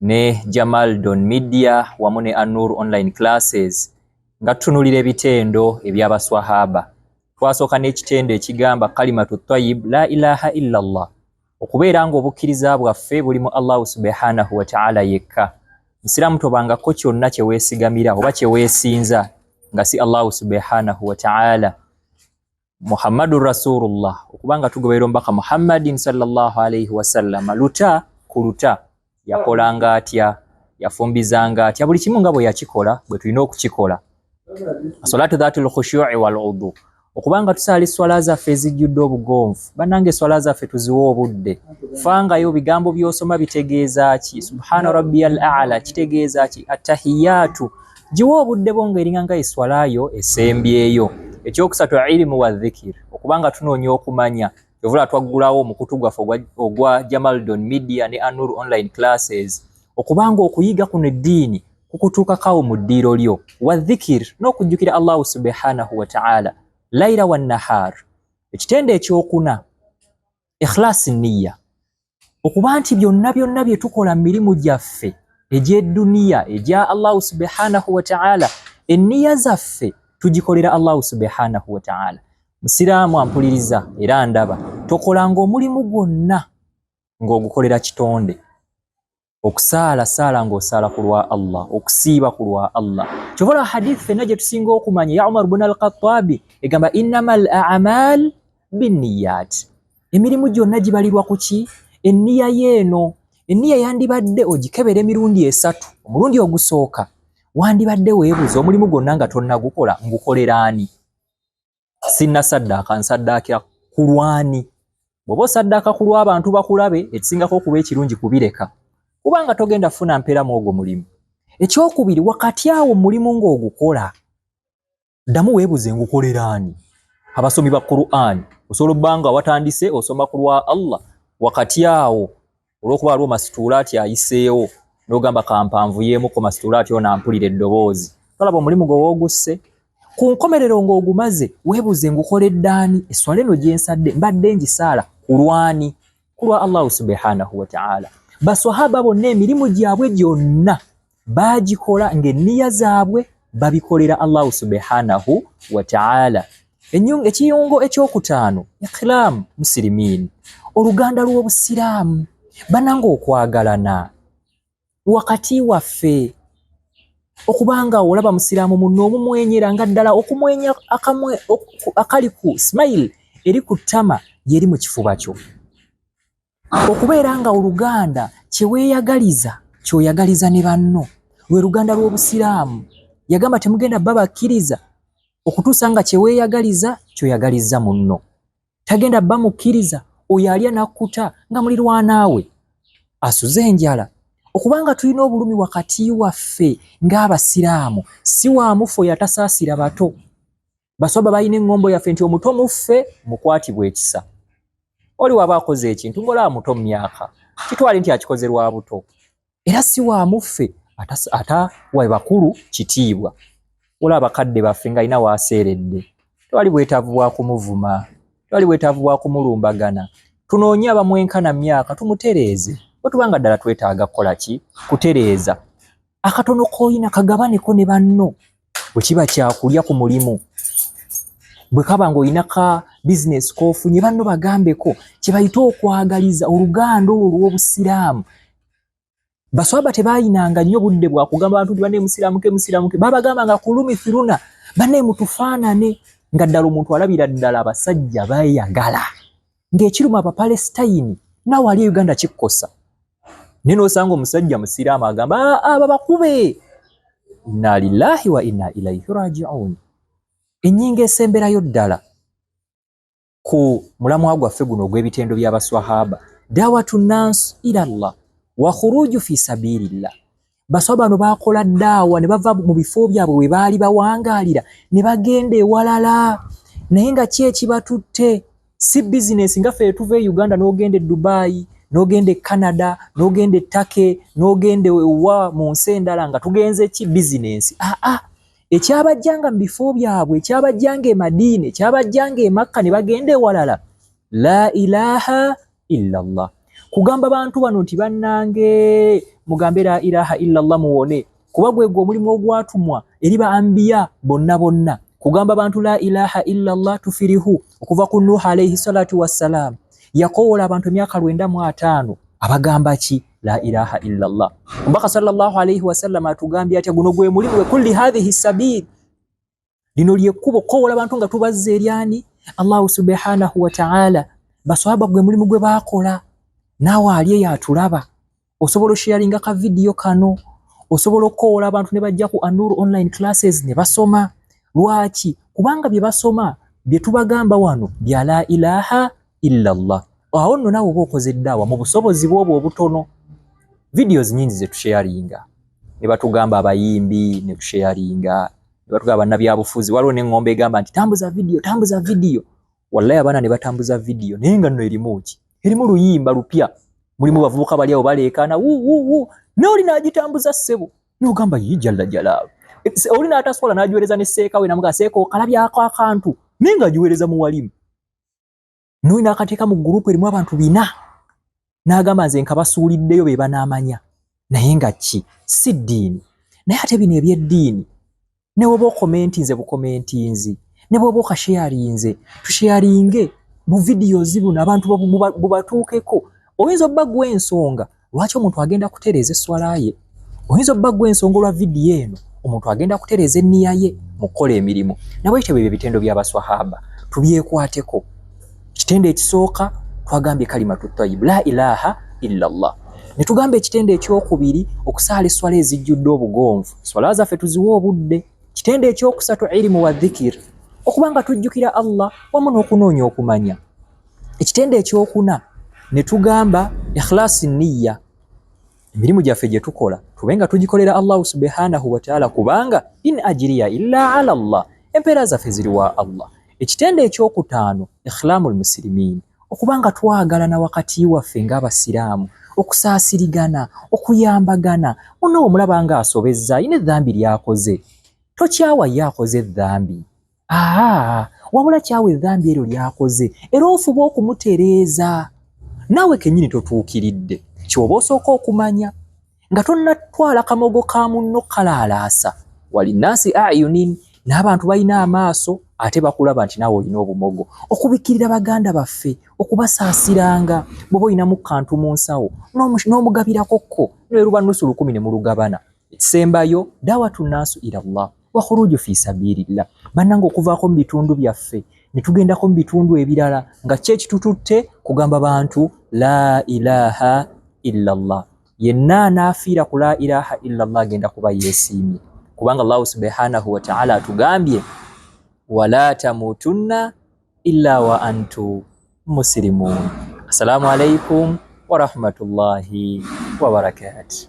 ne Jamal Don Media wamu ne Anur Online Classes nga tutunulira ebitendo eby'abaswahaba twasooka n'ekitendo ekigamba kalimatu tayib la ilaha illa llah okubeera ng'obukkiriza bwaffe buli mu allahu subhanahu wataala yekka nsiramu tobangako kyonna kyeweesigamira oba kyeweesinza nga si allahu subhanahu wataala Muhammadu Rasulullah, okuba nga tugoberera omubaka Muhammadin sallallahu alaihi wasallam, luta ku luta yakolanga atya, yafumbizanga atya, buli kimu nga bwe yakikola bwe tulina okukikola. Salatu dhatul khushu'i wal udhu, okuba nga tusaala esswala zaffe ezijjudde obugonvu. Bannange, esswala zaffe tuziwe obudde, fangayo bigambo by'osoma bitegeeza ki? Subhana rabbiyal a'la kitegeeza ki? Attahiyatu Giwa obudde bwo ng'eringa nga eswala yo esembyeyo. Ekyokusatu ilimu wa dhikir, okuba nga tunoonya okumanya. Kyovula twaggulawo omukutu gwaffe ogwa Jamaldon Media ne Anur Online Classes okuba nga okuyiga kuno eddiini kukutuukakawo mu ddiiro lyo. Wa dhikir n'okujjukira Allahu subhanahu wa ta'ala laira wa nahar. Ekitendo ekyokuna ikhlasi niyya okuba nti byonna byonna bye tukola mu mirimu gyaffe egy'edduniya egya allahu subhanahu wataala enniya zaffe tugikolera allahu subhanahu wataala musiraamu ampuliriza era ndaba tokolanga omulimu gwonna ng'ogukolera kitonde okusaala saala ng'osaala ku lwa allah okusiiba ku lwa allah kyobola hadith fenna gye tusinga okumanya ya umar bun alkhatabi egamba innama al amal binniyat emirimu gyonna gibalirwa ku ki enniya yeeno enniya yandibadde ogikebera emirundi esatu omulundi ogusooka wandibadde weebuza omulimu gwonna nga tonnagukola ngukoleraani sinna saddaaka nsaddaakira ku lwani bw'oba osaddaaka ku lw'abantu bakulabe ekisingako okuba ekirungi kubireka kubanga togenda funa mpeera mu ogwo mulimu ekyokubiri wakati awo mulimu ng'ogukola ddamu weebuze ngukolera ani abasomi ba qur'an osobola obbanga watandise osoma ku lwa allah wakati awo olwokuba waliwo masituula ati ayiseewo nogamba kampanvu yemuko masituula ati ono ampulira eddoboozi tolaba omulimu gwe woogusse ku nkomerero ng'ogumaze weebuuze ngukoledde ani esswala eno gye nsadde mbadde ngisaala ku lwani ku lwa allahu subhanahu wataala baswahaba bonna emirimu gyabwe gyonna baagikola ng'enniya zaabwe babikolera allahu subhanahu wataala ekiyungo ekyokutaano ikilaamu musirimiin oluganda lw'obusiraamu bananga okwagalana wakati waffe okubanga olaba musiraamu munno omumwenyera nga ddala okumwenya akali ku smile eri ku ttama yeri mu kifuba kyo Okubeera nga oluganda kyeweyagaliza kyoyagaliza ne banno lwe luganda lw'obusiraamu. Yagamba temugenda bba bakkiriza okutuusa nga kyeweyagaliza kyoyagalizza munno. Tagenda bba mukkiriza oyo alya nakkuta nga mulirwanaawe asuze enjala. Okubanga tulina obulumi wakati waffe ng'abasiraamu si wa mufu oyo atasaasira bato. baswaba balina eŋŋombo yaffe nti omuto muffe mukwatibwa ekisa oli waba akoze ekintu ngaolaba muto mu myaka kitwale nti akikoze lwa buto era si wa muffe ata wa bakulu kitiibwa olaba abakadde baffe nga alina waaseeredde tewali bwetaavu bwa kumuvuma tewali bwetaavu bwa kumulumbagana tunoonye abamwenkana myaka tumutereeze bwe tuba nga ddala twetaaga kukola ki kutereeza akatono koyina kagabaneko ne banno bwe kiba kyakulya ku mulimu bwe kaba ng'olina ka bizinesi kofunye banno bagambeko kye bayita okwagaliza oluganda olwo olw'obusiraamu baswaba tebayinanga nnyo budde bwa kugamba bantu nti banne musiraamuke musiraamuke babagambanga kulumi firuna banne mutufaanane nga ddala omuntu alabira ddala abasajja bayagala ng'ekiruma abapalesitayini naawe ali e uganda kikkosa naye nosanga omusajja musiraamu agamba aa ah, ah, babakube inna lillahi wa inna ilaihi rajiun enyinga esemberayo ddala ku mulamwa gwaffe guno ogw'ebitendo by'abaswahaba dawatu nansi ila llah wa khuruju fi sabilillah Baswa bano baakola ddaawa ne bava mu bifo byabwe we baali bawangaalira ne bagenda ewalala naye nga ki ekibatutte si bizinesi nga ffe etuva e uganda n'ogenda e dubaayi n'ogenda e canada n'ogenda e take n'ogenda ewa mu nsi endala nga tugenze ki bizinesi aa ah, ah. ekyabajjanga mu bifo byabwe ekyabajjanga e madiina ekyabajjanga e makka ne bagenda ewalala la ilaha illallah kugamba bantu bano nti bannange mugambe la ilaha illallah muwone kuba gwegwe omulimu ogwatumwa eri ba ambiya bonna bonna kugamba bantu la ilaha illallah tufirihu okuva ku nuha alaihi salatu wassalaamu yakowoola abantu emyaka lwenda mu ataano abagamba ki la ilaha illallah omubaka sallallahu alaihi wasallam atugambye atya guno gwe mulimu gwe kulli hadhihi sabiili lino lyekkubo kowola bantu nga tubazza eri ani allahu subhanahu wataala baswaba gwe mulimu gwe bakola naawe ali eyo atulaba osobola osheyalinga ka vidiyo kano osobola okukowola abantu ne bajja ku anur online classes ne basoma lwaki kubanga bye basoma bye tubagamba wano bya la ilaha illa llah awo nno naawe oba okoze eddaawa mu busobozi bwobwo obutono vidiyo zinyingi zetusheyalinga ne batugamba abayimbi ne tusheyalinga Batugaba bannabyabufuzi, waliwo n'eŋŋombo egamba nti tambuza vidiyo, tambuza vidiyo. Wallahi abaana ne batambuza vidiyo naye nga nno erimu ki? Erimu luyimba lupya. Mulimu bavubuka bali awo baleekaana wuuwuuwu, n'oli n'agitambuza ssebo n'ogamba yii jalla jalaalu. E, oli n'ataswala n'agiweereza ne seeka we namugaa seeka okalabyako akantu naye ng'agiweereza mu walimu. n'oyo n'akateeka mu gurupu erimu abantu bina n'agamba nze nkabasuuliddeyo be banaamanya naye nga ki si ddiini naye ate bino eby'eddiini ne bwoba okomentinze bukomentinzi ne bwoba okasheyarinze tusheyaringe buvidiyozi buno abantu bubatuukeko oyinza obba gwa ensonga Lwaki omuntu agenda kutereeza esswala ye? Oyinza obba gwe ensonga olwa vidiyo eno, omuntu agenda kutereeza enniya ye mu kukola emirimu. Nabwekityo bwebyo ebitendo by'abaswahaba tubyekwateko. Ekitendo ekisooka twagambye kalimatu tayib la ilaha illa llah, ne tugamba ekitendo ekyokubiri okusaala esswala ezijjudde obugonvu. Esswala zaffe tuziwa obudde. Kitendo ekyokusatu irimu wa dhikir, okuba nga tujjukira Allah wamu n'okunoonya okumanya. Ekitendo ekyokuna ne tugamba ikhlasi niyya, emirimu gyaffe gye tukola tube nga tugikolera Allahu subhanahu wataala kubanga in ajiriya illa ala llah, empeera zaffe ziri wa Allah. Ekitendo ekyokutaano ikhlamu lmusirimiini, okuba nga twagalana wakati waffe ng'Abasiraamu, okusaasirigana, okuyambagana, munno bw'omulaba ng'asobezza alina edhambi ly'akoze tokyawa ye akoze edhambi. aa wabula kyawa edhambi eryo lyakoze era ofuba okumutereeza naawe kenyini totuukiridde kyoba osooka okumanya nga tonnatwala kamogo ka munno kalaalaasa walinaasi ayunin n'abantu balina amaaso ate bakulaba nti naawe olina obumogo okubikkirira baganda baffe okubasaasiranga bwoba olinamu kantu mu nsawo n'omugabirako kko neruba nusu lukumi ne mulugabana Ekisembayo dawatu nasu ila Allah wa khuruju fi sabilillah, banange okuvaako mu bitundu byaffe ne tugendako mu bitundu ebirala nga kye kitututte kugamba bantu la ilaha illa Allah. Yenna anaafiira ku la ilaha illa Allah agenda kuba yeesiimye, kubanga Allahu subhanahu wa ta'ala atugambye wala tamutunna illa wa antu musilimun. Assalamu alaikum wa rahmatullahi wa barakatuh.